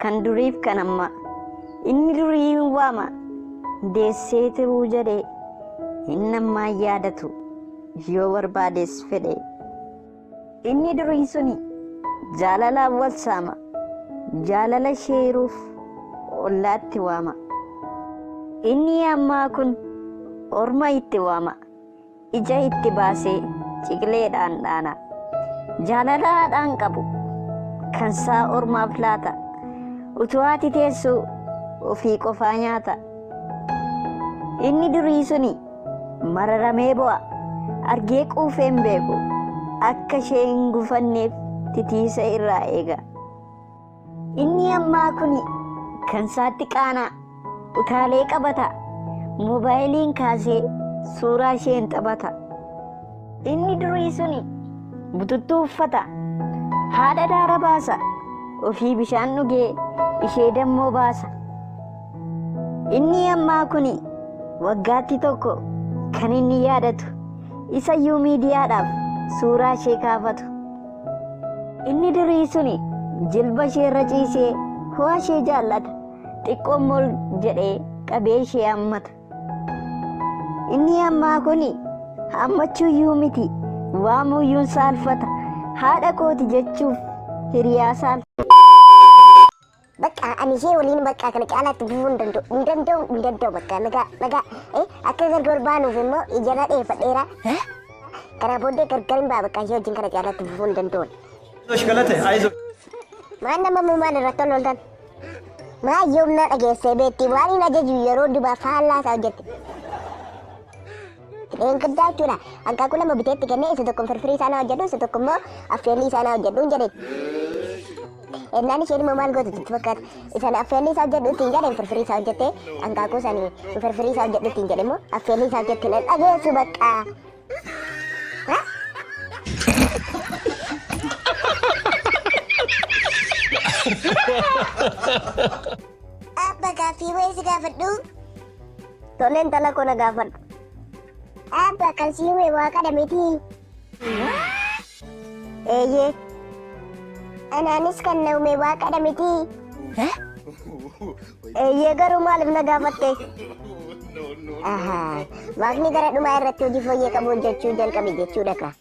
kan duriif kan amma inni durii hin waama deessee tiruu jedhe inni ammaa yaadatu yoo barbaadees fedhe Inni durii suni jaalalaan wal saama, jaalala ishee hiruuf ollaatti waama. Inni ammaa kun orma itti waama, ija itti baasee ciqileedhaan dhaana. Jaalala haadhaan qabu kansaa ormaaf laata, utuu haati teessuu ofii qofaa nyaata. Inni durii suni Mararamee bo'a. Argee quufee hin beeku. Akka ishee hin gufanneef titiisa irraa eega. Inni ammaa kuni kan isaatti qaanaa utaalee qabata. Moobaayiliin kaasee suuraa isheen taphata. Inni durii suni bututtuu uffata. Haadha daara baasa. Ofii bishaan dhugee ishee dammoo baasa. Inni ammaa kuni waggaatti tokko kan inni yaadatu isayyuu miidiyaadhaaf suuraa ishee kaafatu. Inni durii suni jilba ishee irra ciisee ho'a ishee jaallata xiqqoo mol jedhee qabee ishee hammata. Inni ammaa kuni hammachuuyyuu miti waamuuyyuun saalfata haadha kooti jechuuf hiriyaa saalfata. Bakka ani ishee waliin bakka kana caalaa itti fufuu hin danda'u. Hin danda'u hin danda'u bakka nagaa nagaa. Eh akka gargar wal baanuuf immoo ijarraa dheeffadheera. Eh? Kana booddee gargar hin ba'a bakka ishee wajjin kana caalaa itti fufuu hin danda'u. Ayzosh galate ayzosh. Maal nama muumaan irratti ol ooltan? Maa yoomna dhageessee beekti waan hin ajaju yeroo dubaa faallaa isaa hojjette. Eenguddaa jechuudha. Hanqaaquu lama biteetti kennee isa tokko firfirii isaa na hojjedhu isa tokko immoo affeellii isaa na hojjedhu hin jedheen. Ennaan isheen immoo maal gootu sitti fakkaata? Isan affeellii isaa hojjedhu ittiin jedheen firfirii isaa hojjettee hanqaaquu isaanii firfirii isaa hojjedhu ittiin jedhe immoo affeellii isaa hojjettee na dhageessu baqqaa. Ha? Abba gaaffii wayii si gaafadhu. Tole intala koo na gaafadhu. Abba kan si uume waaqadha miti. Eeyyee. Anaanis kan na uume waaqadha miti. Eeyyee garuu maaliif na gaafatte? Ahaa, waaqni gara dhumaa irratti hojii fooyyee qabu hojjechuu jalqabe jechuudha kaa.